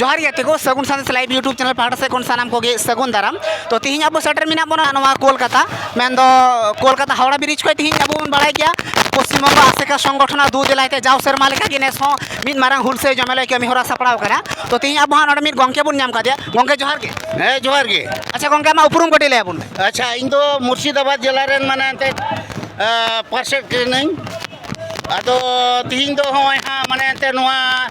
ᱡᱚᱦᱟᱨ ᱜᱮ ᱛᱮᱜᱚ Sagun Sandesh live YouTube channel ᱯᱟᱦᱴᱟ ᱥᱮᱫ ᱠᱷᱚᱱ ᱥᱟᱱᱟᱢ ᱠᱚᱜᱮ ᱥᱟᱹᱜᱩᱱ ᱫᱟᱨᱟᱢ ᱛᱚ ᱛᱮᱦᱮᱧ ᱟᱵᱚ ᱥᱮᱴᱮᱨ ᱢᱮᱱᱟᱜ ᱵᱚᱱᱟ ᱱᱚᱣᱟ ᱠᱳᱞᱠᱟᱛᱟ ᱢᱮᱱᱫᱚ ᱠᱳᱞᱠᱟᱛᱟ ᱦᱟᱣᱲᱟ ᱵᱨᱤᱡᱽ ᱠᱷᱚᱱ ᱛᱮᱦᱮᱧ ᱟᱵᱚ ᱵᱚᱱ ᱵᱟᱲᱟᱭ ᱜᱮᱭᱟ ᱯᱚᱥᱪᱤᱢ ᱵᱚᱝᱜᱚ ᱟᱥᱮᱠᱟ ᱥᱚᱝᱜᱚᱴᱷᱚᱱ ᱫᱩ ᱫᱮᱞᱟᱭ ᱛᱮ ᱡᱟᱣ ᱥᱮᱨᱢᱟ ᱞᱮᱠᱟ ᱜᱮ ᱱᱮᱥ ᱦᱚᱸ ᱢᱤᱫ ᱢᱟᱨᱟᱝ ᱦᱩᱞᱥᱟᱹᱭ ᱡᱚᱢᱮᱞᱟᱭ ᱠᱟᱹᱢᱤ ᱦᱚᱨᱟ ᱥᱟᱯᱲᱟᱣ ᱠᱟᱱᱟ ᱛᱚ ᱛᱮᱦᱮᱧ ᱟᱵᱚ ᱦᱟᱸᱜ ᱱᱚᱰᱮ ᱢᱤᱫ ᱜᱚᱝᱠᱮ ᱵᱚᱱ ᱧᱟᱢ ᱠᱟᱫᱮᱭᱟ ᱜᱚᱝᱠᱮ ᱡᱚᱦᱟᱨ ᱜᱮ ᱦᱮᱸ ᱡᱚᱦᱟᱨ ᱜᱮ ᱟᱪᱪᱷᱟ ᱜᱚᱝᱠᱮ ᱟᱢᱟᱜ ᱩᱯᱨᱩᱢ ᱠᱟᱹᱴᱤᱡ ᱞᱟᱹᱭ ᱟᱵᱚᱱ ᱢᱮ ᱟᱪᱪᱷᱟ ᱤᱧ ᱫᱚ ᱢᱩᱨᱥᱤᱫᱟᱵᱟᱫᱽ ᱡᱮᱞᱟ ᱨᱮᱱ ᱢᱟᱱᱮ ᱮᱱᱛᱮᱫ ᱯᱟᱨᱥᱮᱫ ᱠᱟᱹᱱᱟᱹᱧ ᱟᱫᱚ ᱛᱤᱦᱤᱧ ᱫᱚ ᱦᱚᱸᱜᱼᱚᱭ ᱦᱟᱸᱜ ᱢᱟᱱᱮ ᱮᱱᱛᱮ ᱱᱚᱣᱟ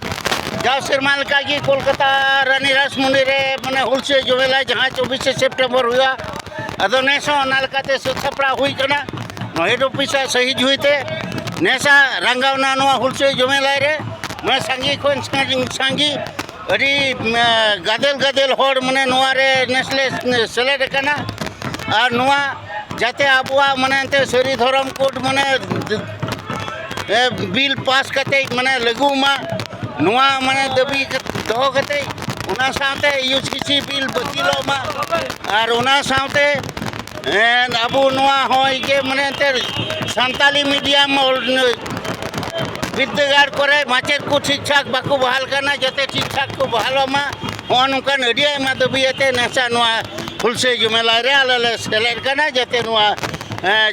ᱡᱟᱣ ᱥᱮᱨᱢᱟ ᱞᱮᱠᱟ ᱜᱮ ᱠᱳᱞᱠᱟᱛᱟ ᱨᱟᱱᱤ ᱨᱟᱥᱢᱩᱱᱰᱤ ᱨᱮ ᱢᱟᱱᱮ ᱦᱩᱞᱥᱟᱹᱭ ᱡᱚᱢᱮᱞᱟ ᱡᱟᱦᱟᱸ ᱪᱚᱵᱵᱤᱥᱮ ᱥᱮᱯᱴᱮᱢᱵᱚᱨ ᱦᱩᱭᱩᱜᱼᱟ ᱟᱫᱚ ᱱᱮᱥ ᱦᱚᱸ ᱚᱱᱟ ᱞᱮᱠᱟᱛᱮ ᱥᱟᱹᱛ ᱥᱟᱯᱲᱟᱣ ᱦᱩᱭ ᱠᱟᱱᱟ ᱱᱚᱣᱟ ᱦᱮᱰ ᱚᱯᱷᱤᱥᱟᱜ ᱥᱟᱹᱦᱤᱡ ᱦᱩᱭᱛᱮ ᱱᱮᱥᱟᱜ ᱨᱟᱸᱜᱟᱣᱱᱟ ᱱᱚᱣᱟ ᱦᱩᱞᱥᱟᱹᱭ ᱡᱚᱢᱮᱞᱟᱭ ᱨᱮ ᱢᱟᱱᱮ ᱥᱟᱸᱜᱮ ᱠᱷᱚᱱ ᱥᱟᱸᱜᱮ ᱟᱹᱰᱤ ᱜᱟᱫᱮᱞ ᱜᱟᱫᱮᱞ ᱦᱚᱲ ᱢᱟᱱᱮ ᱱᱚᱣᱟ ᱨᱮ ᱱᱮᱥ ᱞᱮ ᱥᱮᱞᱮᱫ ᱟᱠᱟᱱᱟ ᱟᱨ ᱱᱚᱣᱟ ᱡᱟᱛᱮ ᱟᱵᱚᱣᱟᱜ ᱢᱟᱱᱮ ᱮᱱᱛᱮᱫ ᱥᱟᱹᱨᱤ ᱫᱷᱚᱨᱚᱢ ᱠᱳᱰ ᱢᱟᱱᱮ ᱵᱤᱞ ᱯᱟᱥ ᱠᱟᱛᱮᱫ ᱢᱟᱱᱮ ᱞᱟᱹᱜᱩᱜ ᱢᱟ ᱱᱚᱣᱟ ᱢᱟᱱᱮ ᱫᱟᱹᱵᱤ ᱫᱚᱦᱚ ᱠᱟᱛᱮᱫ ᱚᱱᱟ ᱥᱟᱶᱛᱮ ᱤᱭᱩ ᱥᱤ ᱥᱤ ᱵᱤᱞ ᱵᱟᱹᱛᱤᱞᱚᱜ ᱢᱟ ᱟᱨ ᱚᱱᱟ ᱥᱟᱶᱛᱮ ᱦᱮᱸ ᱟᱵᱚ ᱱᱚᱣᱟ ᱦᱚᱸ ᱡᱮ ᱢᱟᱱᱮ ᱮᱱᱛᱮᱫ ᱥᱟᱱᱛᱟᱞᱤ ᱢᱤᱰᱤᱭᱟᱢ ᱵᱤᱫᱽᱫᱟᱹᱜᱟᱲ ᱠᱚᱨᱮ ᱢᱟᱪᱮᱫ ᱠᱚ ᱴᱷᱤᱠ ᱴᱷᱟᱠ ᱵᱟᱠᱚ ᱵᱟᱦᱟᱞ ᱠᱟᱱᱟ ᱡᱟᱛᱮ ᱴᱷᱤᱠ ᱴᱷᱟᱠ ᱠᱚ ᱵᱟᱦᱟᱞᱚᱜ ᱢᱟ ᱱᱚᱜᱼᱚ ᱱᱚᱝᱠᱟᱱ ᱟᱹᱰᱤ ᱟᱭᱢᱟ ᱫᱟᱹᱵᱤ ᱟᱛᱮ ᱱᱮᱥᱟ ᱱᱚᱣᱟ ᱦᱩᱞᱥᱟᱹᱭ ᱡᱩᱢᱮᱞᱟ ᱨᱮ ᱟᱞᱮ ᱞᱮ ᱥᱮᱞᱮᱫ ᱠᱟᱱᱟ ᱡᱟᱛᱮ ᱱᱚᱣᱟ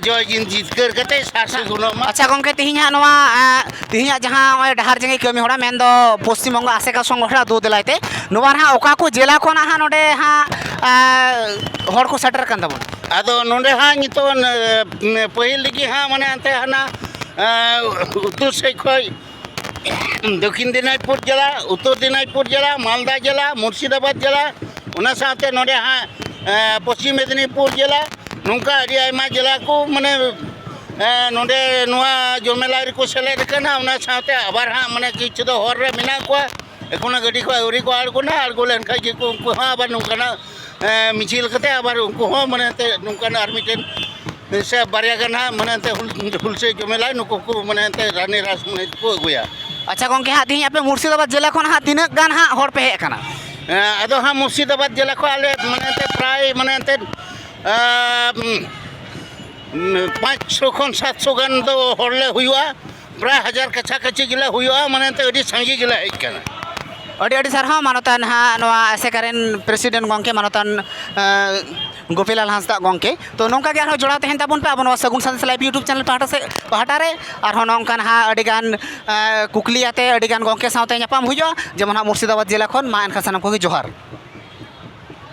ᱡᱚᱭ ᱡᱤᱛᱠᱟᱹᱨ ᱠᱟᱛᱮ ᱥᱟᱨᱥᱮ ᱜᱩᱱᱚᱜ ᱢᱟ ᱟᱪᱪᱷᱟ ᱜᱚᱢᱠᱮ ᱛᱮᱦᱮᱧ ᱦᱟᱸᱜ ᱱᱚᱣᱟ ᱛᱮᱦᱮᱧᱟᱜ ᱡᱟᱦᱟᱸ ᱱᱚᱜᱼᱚᱭ ᱰᱟᱦᱟᱨ ᱡᱟᱸᱜᱮ ᱠᱟᱹᱢᱤ ᱦᱚᱨᱟ ᱢᱮᱱᱫᱚ ᱯᱚᱥᱪᱤᱢ ᱵᱚᱝᱜᱚ ᱟᱥᱮᱠᱟ ᱥᱚᱝᱜᱚᱴᱷᱚᱱ ᱟᱛᱳ ᱫᱮᱞᱟᱭ ᱛᱮ ᱱᱚᱣᱟ ᱱᱟᱦᱟᱜ ᱚᱠᱟ ᱠᱚ ᱡᱮᱞᱟ ᱠᱷᱚᱱ ᱱᱟᱦᱟᱜ ᱱᱚᱰᱮ ᱦᱟᱸᱜ ᱦᱚᱲ ᱠᱚ ᱥᱮᱴᱮᱨ ᱟᱠᱟᱱ ᱛᱟᱵᱚᱱᱟ ᱟᱫᱚ ᱱᱚᱰᱮ ᱦᱟᱸᱜ ᱱᱤᱛᱚᱜ ᱯᱟᱹᱦᱤᱞ ᱨᱮᱜᱮ ᱦᱟᱸᱜ ᱢᱟᱱᱮ ᱮᱱᱛᱮ ᱦᱟᱱᱟ ᱩᱛᱛᱚᱨ ᱥᱮᱫ ᱠᱷᱚᱡ ᱫᱚᱠᱠᱷᱤᱱ ᱫᱤᱱᱟᱡᱽᱯᱩᱨ ᱡᱮᱞᱟ ᱩᱛᱛᱚᱨ ᱫᱤᱱᱟᱡᱽᱯᱩᱨ ᱡᱮᱞᱟ ᱢᱟᱞᱫᱟ ᱡᱮᱞᱟ ᱢᱩᱨᱥᱤᱫᱟᱵᱟᱫᱽ ᱡᱮᱞᱟ ᱚᱱᱟ ᱥᱟᱶᱛᱮ ᱱᱚᱰᱮ ᱦᱟᱸᱜ ᱯᱚᱥᱪᱤᱢ ᱢᱮᱫᱽᱱᱤᱯᱩᱨ ᱡᱮᱞᱟ ᱱᱚᱝᱠᱟ ᱟᱹᱰᱤ ᱟᱭᱢᱟ ᱡᱮᱞᱟ ᱠᱚ ᱢᱟᱱᱮ ᱱᱚᱰᱮ ᱱᱚᱣᱟ ᱡᱚᱢᱮᱞᱟ ᱨᱮᱠᱚ ᱥᱮᱞᱮᱫ ᱟᱠᱟᱱᱟ ᱚᱱᱟ ᱥᱟᱶᱛᱮ ᱟᱵᱟᱨ ᱦᱟᱸᱜ ᱢᱟᱱᱮ ᱠᱤᱪᱷᱩ ᱫᱚ ᱦᱚᱨ ᱨᱮ ᱢᱮᱱᱟᱜ ᱠᱚᱣᱟ ᱮᱠᱷᱚᱱᱳ ᱜᱟᱹᱰᱤ ᱠᱚ ᱟᱹᱣᱨᱤ ᱠᱚ ᱟᱬᱜᱚᱱᱟ ᱟᱬᱜᱚ ᱞᱮᱱᱠᱷᱟᱡ ᱜᱮᱠᱚ ᱩᱱᱠᱩ ᱦᱚᱸ ᱟᱵᱟᱨ ᱱᱚᱝᱠᱟᱱᱟᱜ ᱢᱤᱪᱷᱤᱞ ᱠᱟᱛᱮ ᱟᱵᱟᱨ ᱩᱱᱠᱩ ᱦᱚᱸ ᱢᱟᱱᱮ ᱮᱱᱛᱮ ᱱᱚᱝᱠᱟᱱᱟᱜ ᱟᱨ ᱢᱤᱫᱴᱮᱱ ᱥᱮ ᱵᱟᱨᱭᱟ ᱜᱟᱱ ᱦᱟᱸᱜ ᱢᱟᱱᱮ ᱮᱱᱛᱮ ᱦᱩᱞᱥᱟᱹᱭ ᱡᱚᱢᱮᱞᱟ ᱱᱩᱠᱩ ᱠᱚ ᱢᱟᱱᱮ ᱮᱱᱛᱮ ᱨᱟᱱᱤ ᱨᱟᱥ ᱢᱟᱱᱮ ᱠᱚ ᱟᱹᱜᱩᱭᱟ ᱟᱪᱪᱷᱟ ᱜᱚᱢᱠᱮ ᱦᱟᱸᱜ ᱛᱮᱦᱮᱧ ᱟᱯᱮ ᱢᱩᱨᱥᱤᱫᱟᱵᱟᱫᱽ ᱡᱮᱞᱟ ᱠᱷᱚᱱ ᱦᱟᱸᱜ ᱛᱤᱱᱟᱹᱜ ᱜᱟᱱ ᱦᱟᱸᱜ ᱦᱚᱲ ᱯᱮ ᱦᱮᱡ ᱟᱠᱟᱱᱟ ᱟᱫᱚ ᱦᱟᱸᱜ ᱢᱩᱨᱥᱤᱫᱟᱵᱟᱫᱽ ᱡᱮᱞᱟ ᱠᱷᱚᱱ ᱟᱞᱮ ᱢᱟᱱᱮ ᱮᱱᱛᱮ ᱯᱨᱟᱭ ᱢᱟᱱᱮ ᱮᱱᱛᱮ ᱯᱟᱸᱪᱥᱚ ᱠᱷᱚᱱ ᱥᱟᱛᱥᱚ ᱜᱟᱱ ᱫᱚ ᱦᱚᱲ ᱞᱮ ᱦᱩᱭᱩᱜᱼᱟ ᱯᱨᱟᱭ ᱦᱟᱡᱟᱨ ᱠᱟᱪᱷᱟ ᱠᱟᱪᱷᱤ ᱜᱮᱞᱮ ᱦᱩᱭᱩᱜᱼᱟ ᱢᱟᱱᱮ ᱮᱱᱛᱮ ᱟᱹᱰᱤ ᱥᱟᱸᱜᱮ ᱜᱮᱞᱮ ᱦᱮᱡ ᱠᱟᱱᱟ ᱟᱹᱰᱤ ᱟᱹᱰᱤ ᱥᱟᱨᱦᱟᱣ ᱢᱟᱱᱚᱛᱟᱱ ᱦᱟᱸᱜ ᱱᱚᱣᱟ ᱟᱥᱮᱠᱟ ᱨᱮᱱ ᱯᱨᱮᱥᱤᱰᱮᱱᱴ ᱜᱚᱢᱠᱮ ᱢᱟᱱᱚᱛᱟᱱ ᱜᱳᱯᱤᱞᱟᱞ ᱦᱟᱸᱥᱫᱟ ᱜᱚᱢᱠᱮ ᱛᱳ ᱱᱚᱝᱠᱟ ᱜᱮ ᱟᱨᱦᱚᱸ ᱡᱚᱲᱟᱣ ᱛᱟᱦᱮᱱ ᱛᱟᱵᱚᱱ ᱯᱮ ᱟᱵᱚ ᱱᱚᱣᱟ Sagun Sandesh live YouTube channel ᱯᱟᱦᱴᱟ ᱥᱮᱫ ᱯᱟᱦᱴᱟ ᱨᱮ ᱟᱨᱦᱚᱸ ᱱᱚᱝᱠᱟ ᱦᱟᱸᱜ ᱟᱹᱰᱤ ᱜᱟᱱ ᱠᱩᱠᱞᱤ ᱟᱛᱮ ᱟᱹᱰᱤ ᱜᱟᱱ ᱜᱚᱢᱠᱮ ᱥᱟᱶᱛᱮ ᱧᱟᱯᱟᱢ ᱦᱩᱭᱩᱜᱼᱟ ᱡᱮᱢᱚᱱ ᱦᱟᱸᱜ ᱢᱩᱨᱥᱤᱫᱟᱵᱟᱫᱽ ᱡᱮᱞᱟ ᱠᱷᱚᱱ ᱢᱟ ᱮᱱᱠᱷᱟᱱ ᱥᱟᱱᱟᱢ ᱠᱚᱜᱮ ᱡᱚᱦᱟᱨ